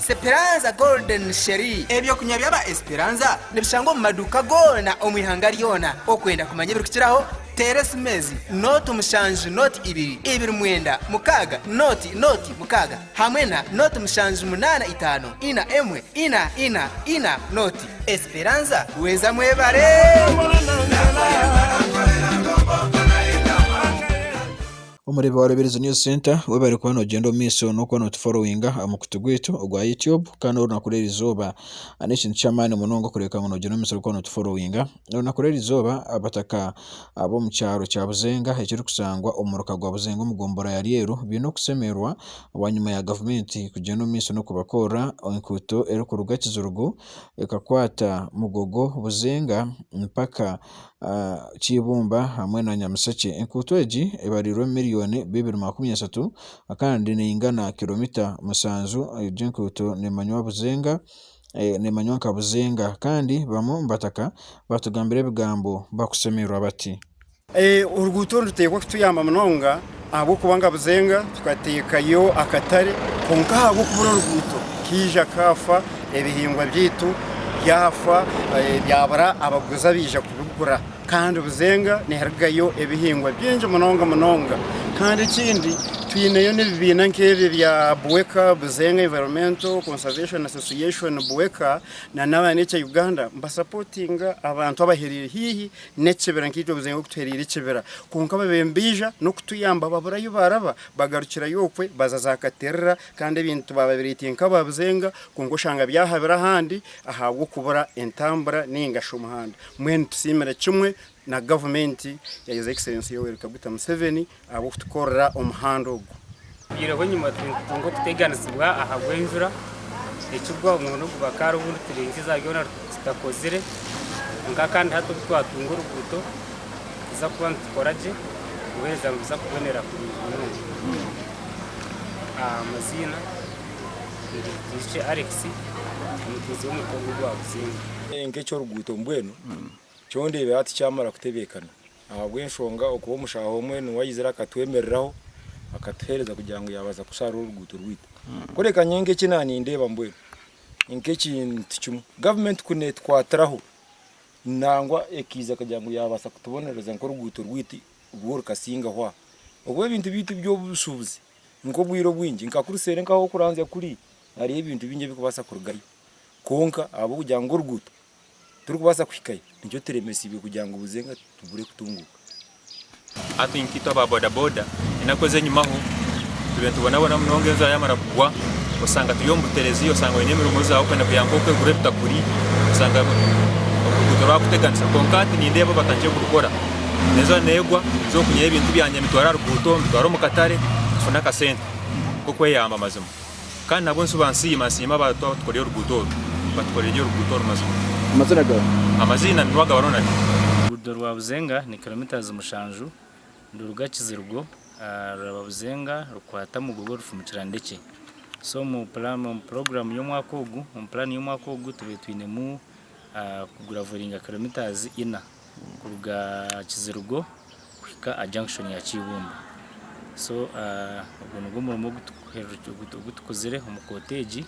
Speranza Golden Sherry, Ebyokunywa by'aba Esperanza nibishangwa omu maduuka goona omu ihanga ryona. Okwenda kumanya ebirikukiraho, teera esimeezi, nooti mushanju nooti ibiri ibiri mwenda mukaaga nooti nooti mukaaga hamwe na nooti mushanju munaana itaano ina emwe ina ina ina nooti. Esperanza Bweza Mwebare! Omureebi wa Rubirizi News Centre, waba ori kuba noogyenda omu maisho n'okuba nootuforowinga aha mukutu gwaitu ogwa Youtube kandi orunaku rw'eri izooba n'ekintu ky'amaani munonga okureebeka ngu noogyenda omu maisho ori kuba nootuforowinga. Orunaku rw'eri izooba abataka ab'omu kyaro kya Buzenga ekiri kushangwa omu muruka gwa Buzenga omu gombora ya Ryeru baine okushemererwa bwanyima ya gavumenti kugyenda omu maisho n'okubakorera enkuuto eri kuruga Kizirugu ekakwata Mugogo, Buzenga mpaka ky'eibumba hamwe na Nyamishekye. Enkuuto egi ebarirwe omu mirioni bibiri makumi ashatu kandi neyingana kiromita mushanju. Egi enkuuto nemanywa Buzenga nemanywa nka Buzenga kandi bamwe omu bataka batugambira ebigambo bakushemererwa bati. Oruguuto oru nituteekwa kutuyamba munonga Ahabw'okuba ngabuzenga tukateekayo akatare, kwonka ahabw'okubura oruguuto kaija kaafa, ebihingwa byaitu byafa, byabura abaguzi abaija kubigura. Kandi buzenga niharugayo ebihingwa bingi munonga munonga. Kandi ekindi twineyo n'ebibiina nk'ebyo bya BUEKA, Buzenga Environmental Conservation Association, BUEKA, nana aba Nature Uganda nibasapotinga abantu abahereire haihi n'ekibira nkaitwe buzenga oku tuhereire ekibira kwonka babire nibaija n'okutuyamba babura ahu baaraba bagarukirayo okwe baza za Katerera kandi ebintu baababireeteire nk'aba buzenga kwonka oshanga byahabire ahandi ahabw'okubura entambura nainga shi omuhanda. Mbwenu nitusiimira kimwe na gavumenti ya His Excellency Yoweri Kaguta Museveni ahabw'okutukorera omuhanda ogu. Twihireho enyima nitunga okuteganizibwa ahabw'enjura ekigwa omurundi ogu bakaara obu nituringiza byona tutakozire kwonka kandi hati obu twatunga oruguuto nituza kuba nitukora gye kubuheereza nibuza kubonera kurungi munonga. Amaziina ningye Butoishe Alex omuteezi w'omuringo ogu gwa buzinga. Nk'eky'oruguuto mbwenu kyo ndeebire hati kyamara kutebeekana Ahabw'enshonga okuba omushaaha omwe niwe aizire akatwemereraho, akatuheereza kugira ngu yaabaasa kushaara oruguuto rwaitu. Kureka nyowe nk'eki naanindeeba mbwenu nk'ekintu kimwe gavumenti ku neetukwatiraho nangwa ekaiza kugira ngu yaabaasa kutubonereza nk'oruguuto rwaitu rwo rukasingaho aha. Ahakuba ebintu byaitu by'obushubuzi nk'obwire obwingi nka kuri seeri nk'ah'okuranzya kuri hariyo ebintu bingi ebirikubaasa kurugayo. Kwonka ahabw'okugira ngu oruguuto turikubaasa kuhikayo nikyo turemetsiibwe kugira ngu buze nga tubure kutunguuka. Hati nkaitwe aba bodaboda enaku ez'enyumaho tube nitubonabona munonga enjura yaamara kugwa osanga turi omu buterezi osanga oine emirimo ei waabaire okwenda kugira ngu nk'oku egure ebitakuri osanga oruguuto rwakuteganisa kwonka hati nindeeba obatandikire kurukora enjura neegwa ninza okunyihayo ebintu byangye mbitware aha ruguuto mbitware omu katare nfune akasente k'okweyamba mazima. Kandi nabwo nizo bansiima nsiima aba twatukorire oruguuto oru batukoreire oruguuto oru mazima. Amaziina gawe? Amaziina ni Rwagaba Ronald. Oruguudo rwa Buzenga ni kilometres mushanju niruruga Kizirugo ruraba Buzenga rukwata Mugogo rufumukira Ndekye. So omu program y'omwaka ogu, omu plan y'omwaka ogu tubaire twinemu kugraveringa kilometres ina. kuruga aha kizirugo kuhika aha junction ya kyibumba so ogu nigwo murimo ogutukuzire omu koota egi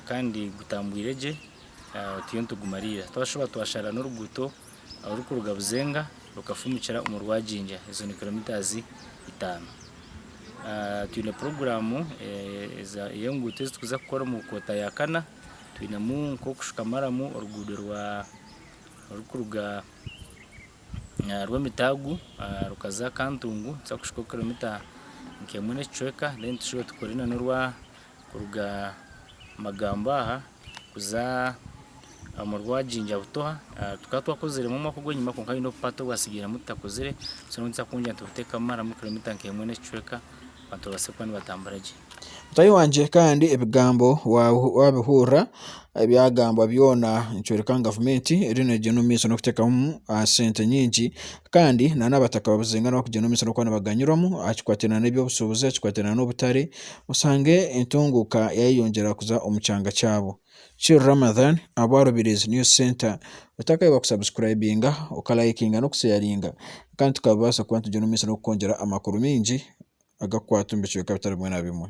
kandi gutambwire gye oteiyo nitugumariira twashuba twashara n'oruguuto orurikuruga buzenga rukafumukira omu rwajingya ezo ni kilometres itaano twine puroguramu ey'enguuto ezi turikuza kukora omu koota ya kana twinemu nk'okushuka maramu oruguuto rwa orikuruga aha rw'emitaagu rukaza aha kantungu nituza kushuka kiromita nka emwe n'ekicweka then tushuba tukore na norwa kuruga Magambo aha kuza omu rwa Jinja Butoha tukaba twakoziremu omwaka ogw'enyima kwonka haine obupati obwatsigiremu tutakozire so nituza kwongyera nitubuteekamu maramu kiromita nka emwe n'ekicweka. Abantu babaase kuba nibatambura gye. Mutaahi wangye kandi ebigambo waabihurira ebyagambwa byona nikyoreka ngu gavumenti eriyo neegyenda omu maisho n'okuteekamu sente nyingi kandi nana abataka babuzinga nabo kugyenda omu maisho n'okuba nibaganyirwamu aha kikwataine nana eby'obushuubuzi, aha kikwataine nana obutare oshange entunguuka yaayeyongyera kuza omu kyanga kyabo. Chill Ramadhan Abwa Rubirizi News Centre Otakahebwa ku subscribinga, oka likinga n'oku sharinga kandi tukabaasa kuba nitugyenda omu maisho n'okukwongyera amakuru maingi agakukwata omu bicweka bitari bimwe na bimwe.